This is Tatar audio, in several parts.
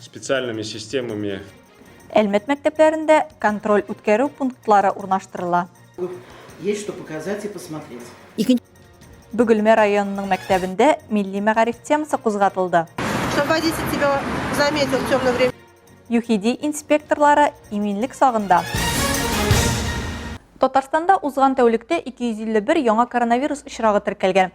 Специальными системами. Әлмәт мәктәпләрендә контроль үткәрү пунктлары урнаштырыла. Есть что показать и посмотреть. Икенче Бөгелмә районының мәктәбендә милли мәгариф темасы кузгатылды. Что водитель тебя заметил в темное время. ЮХИДИ инспекторлары иминлек сагында. Татарстанда узган тәүлектә 251 яңа коронавирус очрагы теркәлгән.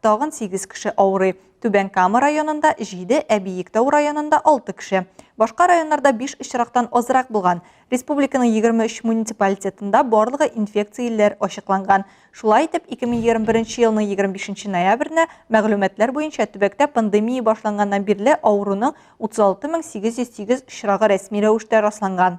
Тагын сигез кеше авырый. Түбән Кама районында, җиде, ә Биектау районында алты кеше. Башка районнарда биш очрактан азрак булган. Республиканың 23 муниципалитетында барлыгы инфекциялеләр ачыкланган. Шулай итеп, 2021 елның 25 ноябренә мәгълүматлар буенча төбәктә пандемия башланганнан бирле авыруның 36808 очрагы рәсми рәвештә расланган.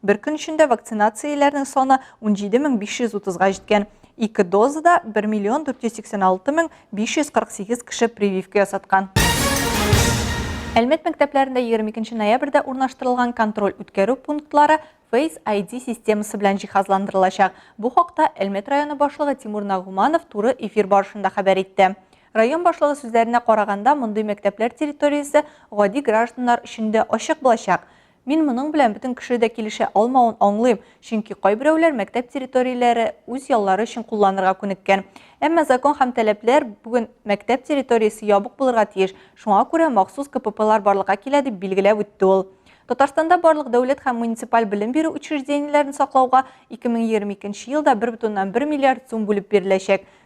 Бер көн эчендә вакцинацияләрнең саны 17 мең 530 га җиткән. Ике дозада 1 миллион 486 мең 548 кеше прививка ясаткан. Әлмәт мәктәпләрендә 22 ноябрьдә урнаштырылган контроль-үткәрү пунктлары Face ID системасы белән җиһазландырылачак. Бу хакта Әлмәт районы башлыгы Тимур Нагуманов туры эфир барышында хәбәр итте. Район башлыгы сүзләренә караганда, мондый мәктәпләр территориясе гади гражданнар өчен дә ачык булачак. Мин моның белән бөтен кеше дә килешә алмавын аңлыйм, чөнки кайберәүләр мәктәп территорияләре үз яллары өчен кулланырга күнеккән. Әмма закон һәм таләпләр бүген мәктәп территориясе ябык булырга тиеш, шуңа күрә махсус КППлар барлыкка килә, дип билгеләп үтте ул. Татарстанда барлык дәүләт һәм муниципаль белем бирү учреждениеләрен саклауга 2022 елда 1,1 миллиард сум бүлеп биреләчәк.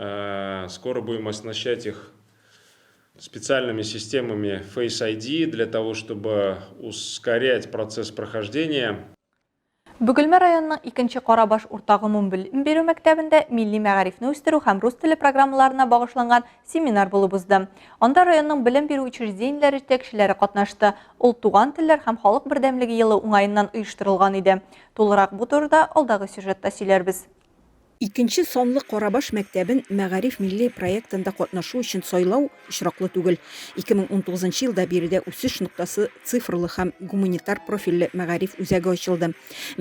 Э, скоро будем оснащать их специальными системами Face ID для того, чтобы ускорять процесс прохождения. Бүгелмә районының икенче Карабаш урта гомум белем бирү мәктәбендә милли мәгарифне үстерү һәм рус теле программаларына багышланган семинар булып узды. Анда районның белем бирү учреждениеләре җитәкчеләре катнашты. Ул туган телләр һәм халык бердәмлеге елы уңаеннан оештырылган иде. Тулырак бу турыда алдагы сюжетта сөйләрбез. Икенче санлы Карабаш мәктәбен Мәгариф милли проектында катнашу өчен сайлау очраклы түгел. 2019 елда биредә үсеш ноктасы цифрлы һәм гуманитар профильле мәгариф үзәге ачылды.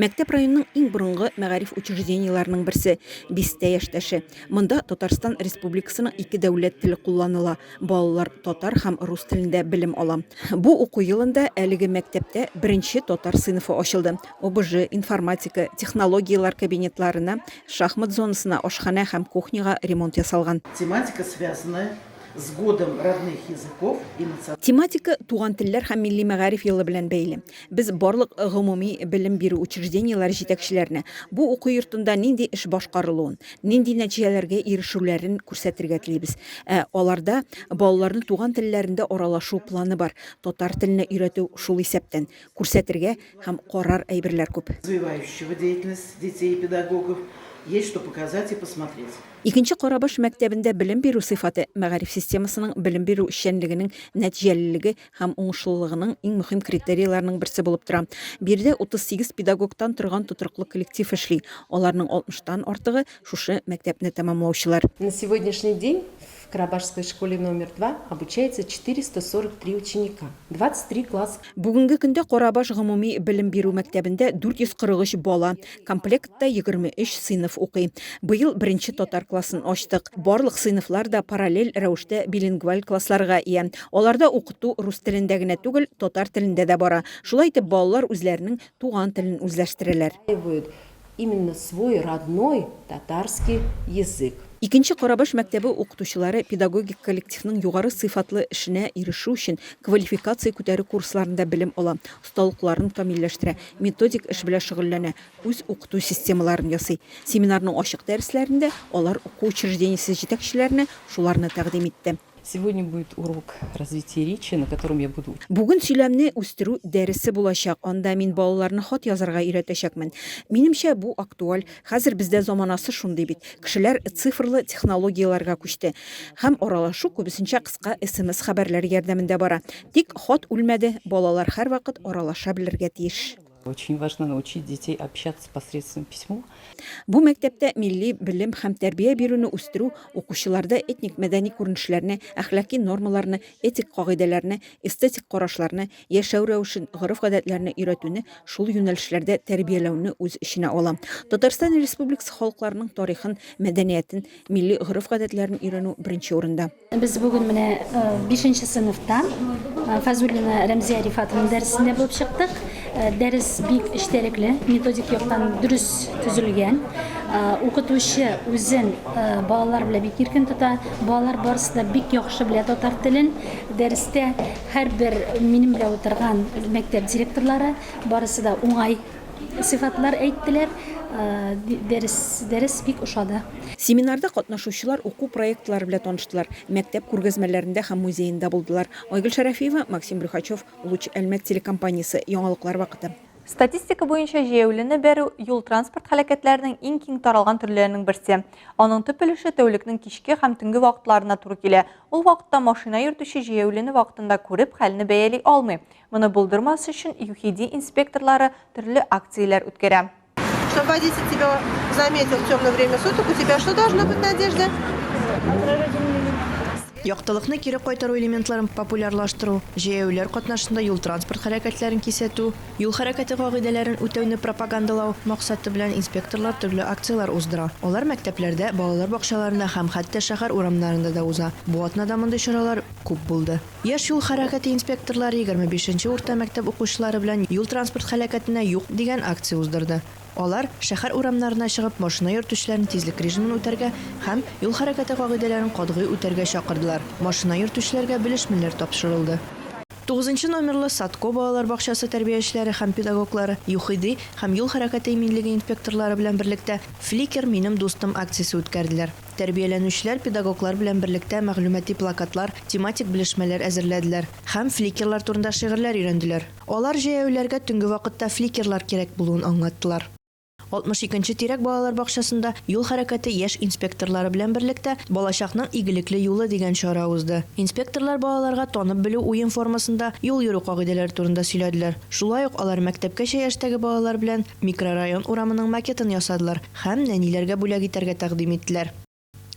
Мәктәп районның иң борынгы мәгариф учреждениеләренең берсе, бистә яшьтәше. Монда Татарстан Республикасының ике дәүләт теле кулланыла, балалар татар һәм рус телендә белем ала. Бу уку елында әлеге мәктәптә беренче татар сыйныфы ачылды. ОБЖ, информатика, технологияләр кабинетларына, шахмат зонасына, ашханә һәм кухняга ремонт ясалган. Тематика, связанная с Годом родных языков и национальных. Тематика Туган телләр һәм милли мәгариф елы белән бәйле. Без барлык гомуми белем бирү учреждениеләре җитәкчеләренә бу уку йортында нинди эш башкарылуын, нинди нәтиҗәләргә ирешүләрен күрсәтергә телибез. Ә аларда балаларны туган телләрендә аралашу планы бар, татар теленә өйрәтү шул исәптән. Күрсәтергә һәм карар әйберләр күп. Развивающего деятельность детей и педагогов есть что показать и посмотреть. Икенче Карабаш мәктәбендә белем бирү сыйфаты, мәгариф системасының белем бирү эшчәнлегенең нәтиҗәлелеге һәм уңышлылыгының иң мөһим критерийларының берсе булып тора. Биредә 38 педагогтан торган тотрыклы коллектив эшли, аларның 60 тан артыгы, шушы мәктәпне тәмамлаучылар. На сегодняшний день В Карабашской школе номер два обучается 443 ученика, 23 класс. Бүгенге көндә Карабаш гомуми белем бирү мәктәбендә 443 бала, комплектта 23 сыйныф укый. Быел беренче татар классын ачтык. Барлык сыйныфлар да параллель рәвештә билингваль классларга ия. Аларда укыту рус телендә генә түгел, татар телендә дә бара. Шулай итеп балалар үзләренең туган телен үзләштерәләр. Осваивают Именно свой родной татарский язык. Икенче Карабаш мәктәбе укытучылары педагогик коллективның югары сыйфатлы эшенә ирешү өчен квалификация күтәрү курсларында белем ала, осталыкларын камилләштерә, методик эш белән шөгыльләнә, үз укыту системаларын ясый. Семинарның ачык дәресләрендә алар уку учреждениесе җитәкчеләренә шуларны тәкъдим итте. Сегодня будет урок развития речи, на котором я буду. Бүген сөйләмне үстерү дәресе булачак, анда мин балаларны хат язарга өйрәтәчәкмен. Минемчә, бу актуаль, хәзер бездә заманасы шундый бит, кешеләр цифрлы технологияләргә күчте. Һәм аралашу күбесенчә кыска смс хәбәрләр ярдәмендә бара. Тик хат үлмәде, балалар һәрвакыт аралаша белергә тиеш. Очень важно научить детей общаться посредством письмо. Бу мәктәптә милли белем һәм тәрбия бирүне үстерү, укучыларда этник-мәдәни күренешләрне, әхлаки нормаларны, этик кагыйдәләрне, эстетик карашларны, яшәү рәвешен, гореф-гадәтләрне өйрәтүне, шул юнәлешләрдә тәрбияләүне үз эченә ала. Татарстан Республикасы халыкларының тарихын, мәдәниятен, милли гореф-гадәтләрен өйрәнү беренче урында. Без бүген менә бишенче сыйныфта Фазулина Рәмзия Рифатовна дәресендә булып чыктык. Дәрес бик эчтәлекле, методик яктан дөрес төзелгән. Укытучы үзен балалар белән бик иркен тота. Балалар барысы да бик яхшы белә татар телен. Дәрестә һәрбер минем белән утырган мәктәп директорлары барысы да уңай Сыйфатлар әйттеләр, дәрес, дәрес бик ошады. Семинарда катнашучылар уку проектлары белән таныштылар, мәктәп күргәзмәләрендә һәм музеенда булдылар. Айгөл Шәрәфиева, Максим Брюхачев, Луч Әлмәт телекомпаниясе, Яңалыклар вакыты. Статистика буенча җәяүлене бәрү, юл-транспорт һәлакәтләренең иң киң таралган төрләренең берсе. Аның төп өлеше тәүлекнең кичке һәм төнге вакытларына туры килә. Ул вакытта машина йөртүче җәяүлене вакытында күреп, хәлне бәяли алмый. Моны булдырмас өчен ЮХИДИ инспекторлары төрле акцияләр үткәрә. Чтобы водитель тебя заметил в темное время суток, у тебя что должно быть на одежде? Яктылыкны кире кайтару элементларын популярлаштыру, җәяүлеләр катнашында юл-транспорт хәрәкәтләрен кисәтү, юл хәрәкәте кагыйдәләрен үтәүне пропагандалау максаты белән инспекторлар төрле акцияләр уздыра. Алар мәктәпләрдә, балалар бакчаларында һәм хәтта шәһәр урамнарында да уза. Бу атнада мондый чаралар күп булды. Яшь юл хәрәкәте инспекторлары егерме бишенче урта мәктәп укучылары белән Юл-транспорт һәлакәтенә юк дигән акция уздырды. Алар, шәһәр урамнарына чыгып, машина йөртүчеләрне тизлек режимын үтәргә һәм юл хәрәкәте кагыйдәләрен катгый үтәргә чакырдылар. Машина йөртүчеләргә белешмәләр тапшырылды. Тугызынчы номерлы Садко балалар бакчасы тәрбиячеләре һәм педагоглары, ЮХИДИ һәм юл хәрәкәте иминлеге инспекторлары белән берлектә Фликер, минем дустым акциясе үткәрделәр. Тәрбияләнүчеләр педагоглар белән берлектә мәгълүмати плакатлар, тематик белешмәләр әзерләделәр һәм фликерлар турында шигырьләр өйрәнделәр. Алар җәяүләргә төнге вакытта фликерлар кирәк булуын аңлаттылар. 62 нче тирәк балалар бакчасында Юл хәрәкәте яшь инспекторлары белән берлектә Балачакның игелекле юлы дигән чара узды. Инспекторлар балаларга танып белү уен формасында юл йөрү кагыйдәләре турында сөйләделәр. Шулай ук алар мәктәпкәчә яшьтәге балалар белән микрорайон урамының макетын ясадылар, Һәм нәниләргә бүләк итәргә тәкъдим иттеләр.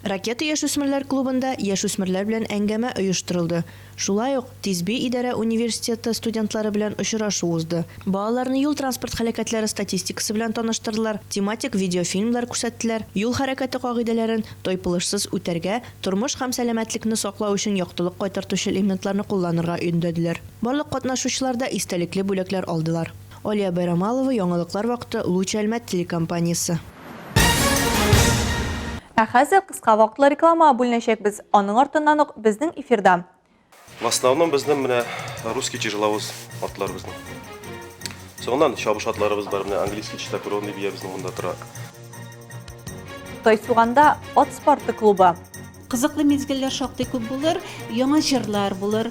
Ракета яшүсмерләр клубында яшүсмерләр белән әңгәмә оештырылды. Шулай ук Тизби идарә университеты студентлары белән очрашу узды. Балаларны юл-транспорт һәлакәтләре статистикасы белән таныштырдылар, тематик видеофильмнар күрсәттеләр, юл хәрәкәте кагыйдәләрен тайпылышсыз үтәргә, тормыш һәм сәламәтлекне саклау өчен яктылык кайтартучы элементларны кулланырга өндәделәр. Барлык катнашучылар да истәлекле бүләкләр алдылар. Алия Байрамалова, яңалыклар вакыты, Луч Әлмәт телекомпаниясе. Ә хәзер кыска вакытлы рекламага бүленәчәкбез, аның артыннан ук безнең эфирда. В основном безнең менә русский тяжеловоз атларыбызның. Соңыннан чабыш атларыбыз бар, менә английский чистокровный биябезнең монда тора. Тайсуганда ат спорты клубы. Кызыклы мизгелләр шактый күп булыр, яңа җырлар булыр.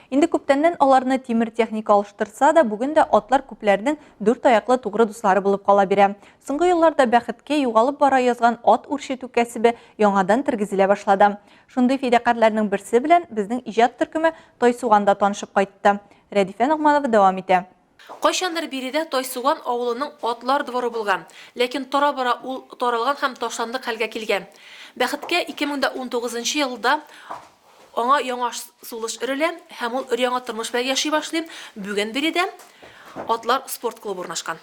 Инде күптәннән аларны тимер техника алыштырса да, бүген дә атлар күпләрнең дүрт аяклы тугры дуслары булып кала бирә. Соңгы елларда бәхеткә югалып бара язган ат үрчетү кәсебе яңадан тергезелә башлады. Шундый фидакарьләрнең берсе белән безнең иҗат төркеме Тайсуганда танышып кайтты. Рәдифә Ногманова дәвам итә. Кайчандыр биредә Тайсуган авылының атлар дворы булган, ләкин тора-бара ул таралган һәм ташландык хәлгә килгән. Бәхеткә, 2019 нчы елда аңа яңа сулыш өрелә һәм ул өр-яңа тормыш белән яши башлый, бүген биредә атлар спорт клубы урнашкан.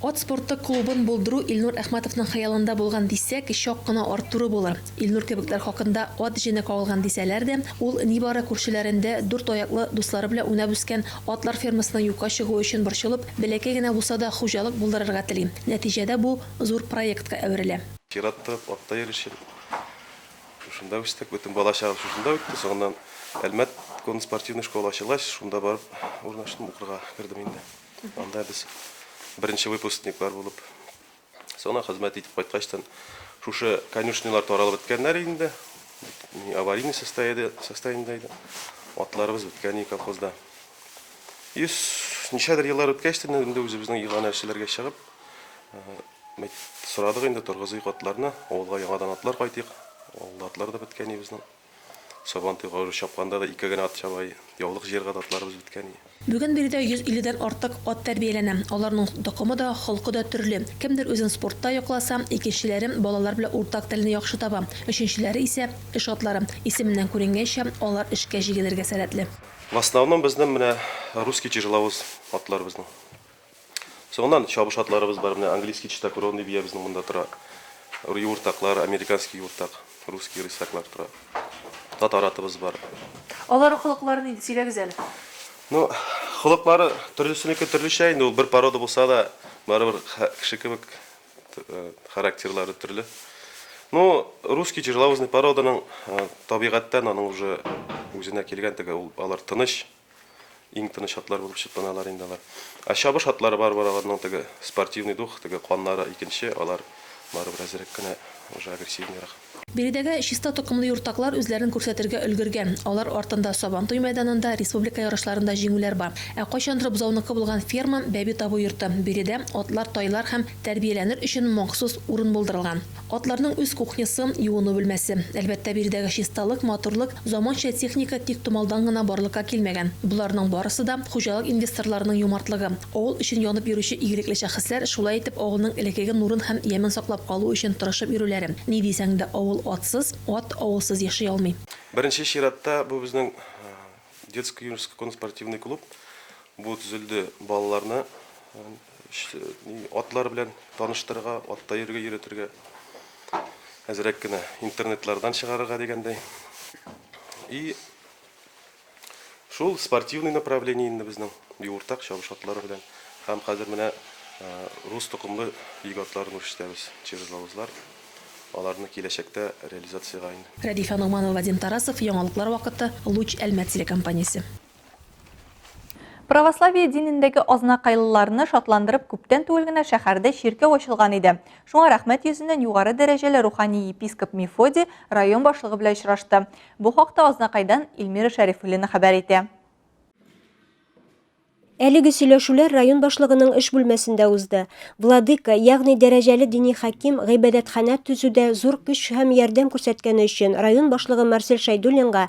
Ат спорты клубын булдыру Илнур Әхмәтовның хыялында булган дисәк, чак кына арттыру булыр. Илнур кебекләр хакында ат җене кагылган дисәләр дә, ул нибары күршеләрендә дүрт аяклы, дуслары белән уйнап үскән атлар фермасының юкка чыгуы өчен борчылып, бәләкәй генә булса да хуҗалык булдырырга тели. Нәтиҗәдә бу зур проектка әверелә. Чират торып, атта йөрүчем. Шушында үстек, бөтен балачагым шушында үтте. Соңыннан Әлмәт конноспортивный школа ачылгач, шунда барып урнаштым, укырга кердем инде. Анда без беренче выпускниклар булып, сона хезмәт итеп кайткачтан, шушы конюшнялар таралып беткәннәр инде, аварийный состояниедә иде, атларыбыз беткән иде колхозда. И ничәдер еллар үткәчтен инде үзебезнең игана эшләргә чыгып, э, сорадык инде торгызыйк атларны, авылга яңадан атлар кайтыйк, авылда атлар да беткән иде безнең. Сабантуйга өлеш чапканда да ике генә ат чабай, яулык җыярга да атларыбыз беткәни. Бүген биредә 150 дән артык ат тәрбияләнә. Аларның токымы да, холкы да төрле. Кемдер үзен спортта якласа, икенчеләре балалар белән уртак телне яхшы таба, өченчеләре исә, эш атлары. Исеменнән күренгәнчә, алар эшкә җигелергә сәләтле. В основном безнең менә русский тяжеловоз атлар безнең. Соңыннан чабыш атларыбыз бар. Менә английский чистокровный бия безнең монда тора. Юыртаклар, американский юыртак, русский рысяклар тора. Татар атыбыз бар. Аларның холыклары нинди? Сөйләгез әле. Ну, холыклары төрлесенеке төрлечә инде, ул бер порода булса да, барыбер кеше кебек характерлары төрле. Ну, русский тяжеловозный породаның табигатьтән аның уже үзенә килгән теге, ул алар тыныч. Иң тыныч атлар булып чикланалар инде алар. Ә чабыш атлары барыбер аларның теге спортивный дух, теге каннары икенче, алар барыбер әзрәк кенә, уже агрессивныйрак. Биредәге чиста токымлы юртаклар үзләрен күрсәтергә өлгергән. Алар артында Сабантуй мәйданында, республика ярышларында җиңүләр бар. Ә кайчандыр бозауныкы булган ферма, бәби табу йорты, биредә атлар, тайлар һәм тәрбияләнер өчен махсус урын булдырылган. Атларның үз кухнясы, юыну бүлмәсе. Әлбәттә, биредәге чисталык, матурлык, заманча техника тик томалдан гына барлыкка килмәгән. Боларның барысы да, хуҗалык инвесторларының юмартлыгы. Авыл өчен янып йөрүче игелекле шәхесләр шулай итеп авылның элеккеге нурын һәм ямен саклап калу өчен тырышып йөрүләре. Ни дисәң дә, авыл атсыз, ат авылсыз яши алмый. Беренче чиратта, бу безнең детско-юношеско конно-спортивный клуб. Бу төзелде балаларны Атлар белән таныштырырга, атта йөрергә өйрәтергә. Әзрәк кенә интернетлардан чыгарырга дигәндәй. И шул спортивный направление инде безнең юртак чабыш атлары белән. Һәм хәзер менә рус токымлы йөк атларын үрчетәбез, чижлавызлар. Аларны киләчәктә реализациягә инде. Рәдифә Ногманова, Вадим Тарасов, Яңалыклар вакыты, Луч Әлмәт телекомпаниясе. Православие динендәге азнакайлыларны шатландырып күптән түгел генә шәһәрдә чиркәү ачылган иде. Шуңа рәхмәт йөзеннән югары дәрәҗәле рухани епископ Мефодий район башлыгы белән очрашты. Бу хакта Азнакайдан Эльмира Шәрифуллина хәбәр итә. Әлеге сөйләшүләр район башлыгының эш бүлмәсендә узды. Владыка, ягъни дәрәҗәле дини хаким, гыйбадәтханә төзүдә зур көч һәм ярдәм күрсәткәне өчен район башлыгы Марсель Шәйдуллинга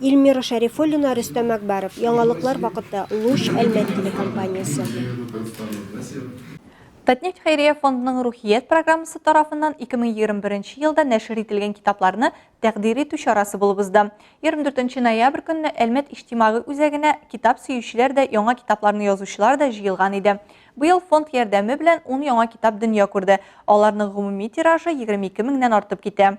Ильмира Шәрифуллина, Рөстәм Әкбаров. Яңалыклар вакыты, Луч, Әлмәт телекомпаниясе. Татнефть хәйрия фондының Рухият программасы тарафыннан 2021 елда нәшер ителгән китапларны тәкъдир итү чарасы булып узды. 24 ноябрь көнне Әлмәт иҗтимагый үзәгенә китап сөючеләр дә, яңа китапларны язучылар да җыелган иде. Быел фонд ярдәме белән 10 яңа китап дөнья күрде. Аларның гомуми тиражы 22 меңнән артып китә.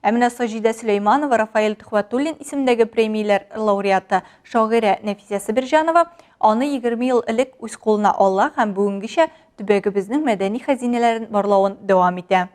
Ә менә Саҗидә Сөләйманова, Рафаэль Төхвәтуллин исемендәге премияләр лауреаты, шагыйрә Нәфисә Себерҗанова аны егерме ел элек үз кулына ала һәм бүгенгечә төбәгебезнең мәдәни хәзинәләрен барлавын дәвам итә.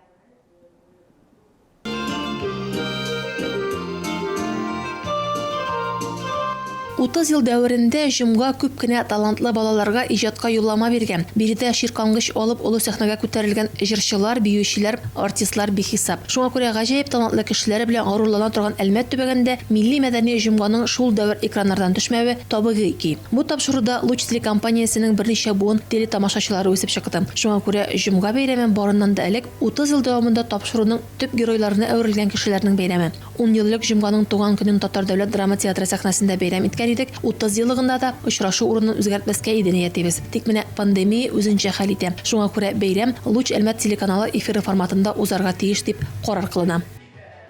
Утыз ел дәверендә җомга күп кенә талантлы балаларга иҗатка юллама биргән, биредә чиркангыч алып олы сәхнәгә күтәрелгән җырчылар, биючеләр, артистлар бихисап. Шуңа күрә гаҗәеп талантлы кешеләре белән горурлана торган Әлмәт төбәгендә милли-мәдәни җомганың шул дәвер экраннардан төшмәве табигый ки. Бу тапшыруда Луч телекомпаниясенең берничә буын телетамашачылары үсеп чыкты. Шуңа күрә җомга бәйрәме барыннан да элек утыз ел дәвамында тапшыруның төп геройларына әверелгән кешеләрнең бәйрәме. Ун ел элек җомганың туган көнен Татар дәүләт драма театры сәхнәсендә бәйрәм иткән идек, утызьеллыгында да очрашу урынын үзгәртмәскә иде ниятебез. Тик менә пандемия үзенчә хәл итә. Шуңа күрә бәйрәм Луч Әлмәт телеканалы эфиры форматында узарга тиеш дип карар кылына.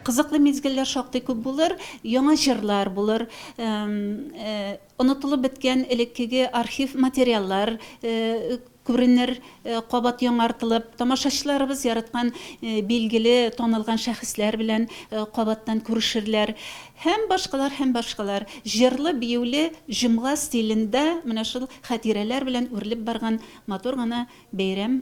Кызыклы мизгелләр шактый күп булыр, яңа җырлар булыр. Онытылып беткән элеккеге архив материаллар күренер, кабат яңартылып, тамашачыларыбыз яраткан билгеле, танылган шәхесләр белән кабаттан күрешерләр. Һәм башкалар, һәм башкалар. Җырлы-биюле җомга стилендә менә шул хәтирәләр белән үрелеп барган матур гына бәйрәм.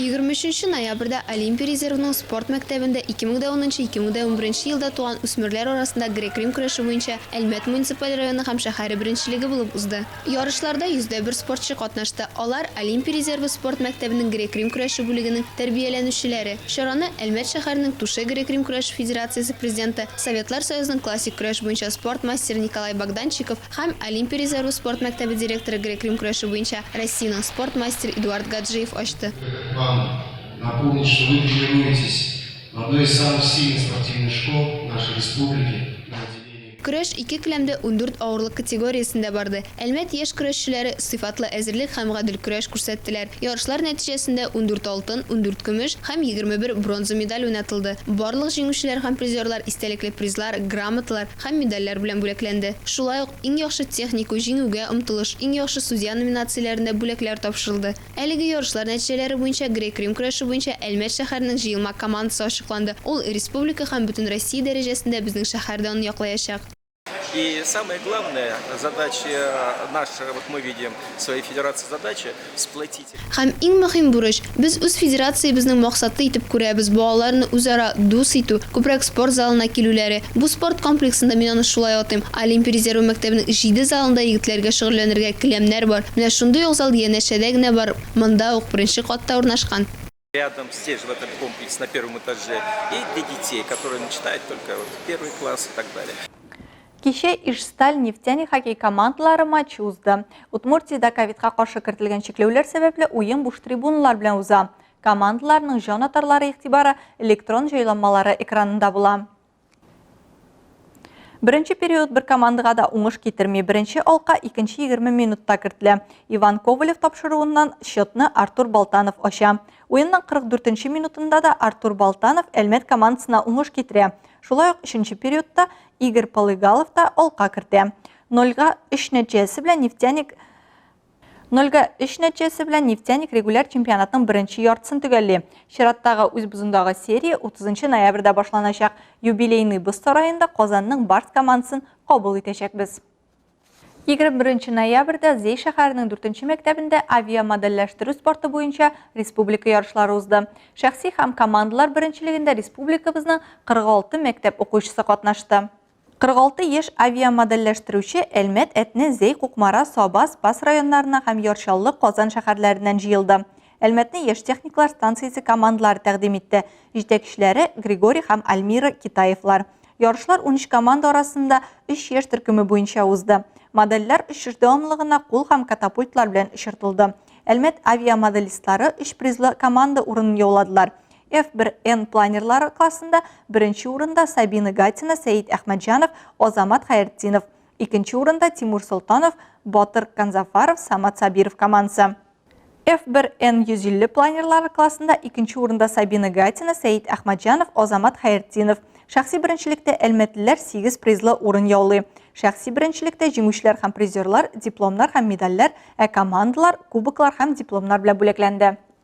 Егерме өченче ноябрьдә Олимпия резервының спорт мәктәбендә 2010-2011 елда туган үсмерләр арасында грек-рим көрәше буенча Әлмәт муниципаль районы һәм шәһәре беренчелеге булып узды. Ярышларда 100 дә бер спортчы катнашты, алар, Олимпия резервы спорт мәктәбенең грек-рим көрәше бүлегенең тәрбияләнүчеләре. Чараны Әлмәт шәһәренең Туше грек-рим көрәше федерациясе президенты, Советлар Союзының классик көрәш буенча спорт мастеры Николай Богданчиков, Һәм Олимпия резервы спорт мәктәбе директоры грек-рим көрәше буенча Россиянең спорт мастеры Эдуард Гаджиев ачты. Этот план, напомнить, что вы тренируетесь в одной из самых сильных спортивных школ нашей республики на отделении. Көрәш ике келәмдә ундүрт авырлык категориясендә барды. Әлмәт яшь көрәшчеләре сыйфатлы әзерлек һәм гадел көрәш күрсәттеләр. Ярышлар нәтиҗәсендә ундүрт алтын, ундүрт көмеш һәм егерме бер бронза медаль уйнатылды. Барлык җиңүчеләр һәм призерлар истәлекле призлар, грамоталар, һәм медальләр белән бүләкләнде. Шулай ук Иң яхшы технику, Җиңүгә омтылыш, Иң яхшы судья номинацияләрендә бүләкләр тапшырылды. Әлеге ярышлар нәтиҗәләре буенча грек-рим көрәше буенча Әлмәт шәһәренең җыелма командасы ачыкланды, ул республика һәм Бөтенроссия дәрәҗәсендә безнең шәһәр данын яклаячак. И самое главное, задача наша, вот мы видим свои федерации задача сплотить. Һәм иң мөһим бурыч, без үз федерациябезнең максаты итеп күрәбез балаларны үзара дус итү, күбрәк спорт залына килүләре. Бу спорт комплексында, мин аны шулай атыйм, Олимпия резервы мәктәбенең җиде залында егетләргә шөгыльләнергә келәмнәр бар. Менә шундый ук зал янәшәдә генә бар, монда ук, беренче катта урнашкан. Рядом здесь, в этом комплексе, на первом этаже, и для детей, которые начинают только вот первый класс и так далее. Кичә Ижсталь нефтяник хоккей командалары матчы узды. Удмуртиядә ковидка каршы кертелгән чикләүләр сәбәпле уен буш трибуналар белән уза. Командаларның җан атарлары игътибары электрон җайланмалары экранында була. Беренче период бер командага да уңыш китерми. Беренче алка икенче 20 минутта кертелә. Иван Ковалев тапшыруыннан счетны Артур Балтанов ача. Уенның 44 минутында да Артур Балтанов Әлмәт командасына уңыш китерә. Шулай ук өченче периодта Игорь Полыгалов та алка кертә. 0-3 нәтиҗәсе белән Нефтяник Нольгә өч нәтиҗәсе белән Нефтяник регуляр чемпионатның беренче яртысын төгәлли. Чираттагы үз бозындагы серия 30 ноябрьдә башланачак. Юбилейный боз сараенда Казанның Барс командасын кабул итәчәкбез. 21 ноябрьдә Зей шәһәренең 4 мәктәбендә авиамодельләштерү спорты буенча республика ярышлары узды. Шәхси һәм командалар беренчелегендә республикабызның 46 мәктәп укучысы катнашты. 46 яшь авиамодельләштерүче Әлмәт, Әтнә, Зәй, Кукмара, Саба, Спас районнарына һәм Ярчаллы, Казан шәһәрләреннән җыелды. Әлмәтне яшь техниклар станциясе командалары тәкъдим итте. Җитәкчеләре Григорий һәм Альмира Китаевлар. Ярышлар 13 команда арасында 3 яшь төркеме буенча узды. Модельләр очыш дәвамлыгына кул һәм катапультлар белән очыртылды. Әлмәт авиамоделистлары 3 призлы команда урынын яуладылар. F1N планерлар аркасында беренче урында Сабина Гатина, Сәет Әхмәтҗанов, Азамат Хәертдинов, икенче урында Тимур Солтанов, Батыр Канзафаров, Самат Сабиров командасы. F1N 150 планерлар классында икенче урында Сабина Гатина, Сәет Әхмәтҗанов, Азамат Хәертдинов. Шәхси беренчелектә әлмәтлеләр 8 призлы урын яулый. Шәхси беренчелектә җиңүчеләр һәм призерлар дипломнар һәм медальләр, ә командалар кубоклар һәм дипломнар белән бүләкләнде.